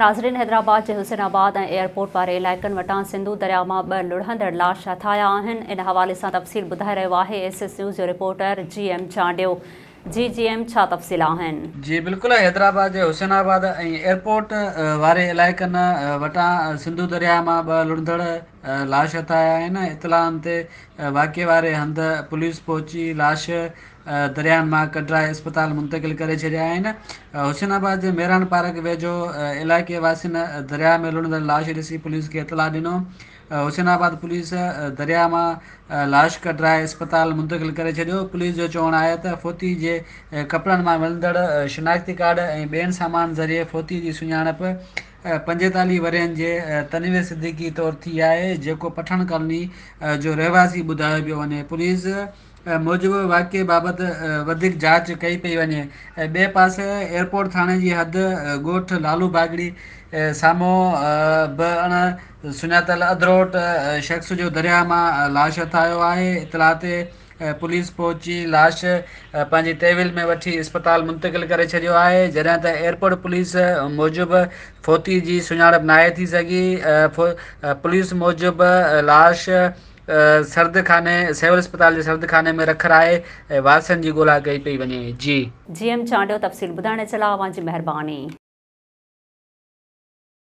ناظرين حيدرآباد جي Hussainabad ۽ airport واري علائقن وٽان سنڌو درياء مان ٻه لڙهندڙ لاش هٿايا آهن ان حوالي سان تفصيل ٻڌائي رهيو آهي ايس ايس نيوز جو رپورٽر جي ايم چانڊيو جي جي ايم ڇا تفصيل آهن. جي بلڪل حيدرآباد جي حسين آباد ۽ ايئرپورٽ واري علائقن وٽان سنڌو درياء مان ٻه لڙهندڙ لاش هٿايا آهن اطلاعن تي واقعي واري هنڌ پوليس پهچي لاش درياهن مان ڪڍرائي اسپتال منتقل ڪري ڇڏيا آهن حسين آباد جي ميران پارڪ ويجهو علائقي واسين درياهه ۾ لڙهندڙ لاش ڏسي پوليس کي اطلاع ڏنو حسين آباد پوليس درياهه مان لاش ڪڍرائي اسپتال منتقل ڪري ڇڏيو پوليس جو چوڻ آهي ته فوتي جي ڪپڙن مان ملندڙ شناختي ڪارڊ ۽ ٻين سامان ذريعي فوتي جي سڃاڻپ پنجيتاليهه ورهين جي تنوير صديقي طور ٿي آهي جيڪو پٺاڻ ڪالوني جو رهواسي ٻڌايو پيو وڃي پوليس موجب واقعي بابت وڌيڪ جاچ ڪئي پئي وڃي ۽ ٻئي پاسي ايئرپورٽ ٿاڻي جي حد ڳوٺ لالو باگڙي سامهون به اڻ سڃاتل اڌروٽ شخص جو درياهه مان لاش هٿ آيو آهي اطلاع تي پوليس پهچي لاش پنهنجي تحويل ۾ وٺي اسپتال منتقل ڪري ڇڏيو آهي جڏهن ته ايئرپورٽ پوليس موجب فوتي جي سڃاڻپ ناهي ٿي سگهي پوليس موجب لاش سردخاني، سول اسپتال جي سردخاني ۾ رک رائي ۽ وارثن جي ڳولا ڪئي پئي وڃي. جي. جي ايم چانڊيو تفصيل ٻڌائڻ جي لاء اوهان جي مهرباني.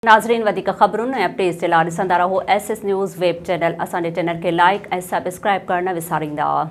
ناظرين وڌيڪ خبرن ۽ اپڊيٽس جي لاء ڏسندا رهو S S news web channel اسان جي چينل کي لائيڪ ۽ سبسڪرائيب ڪرڻ نه وساريندا.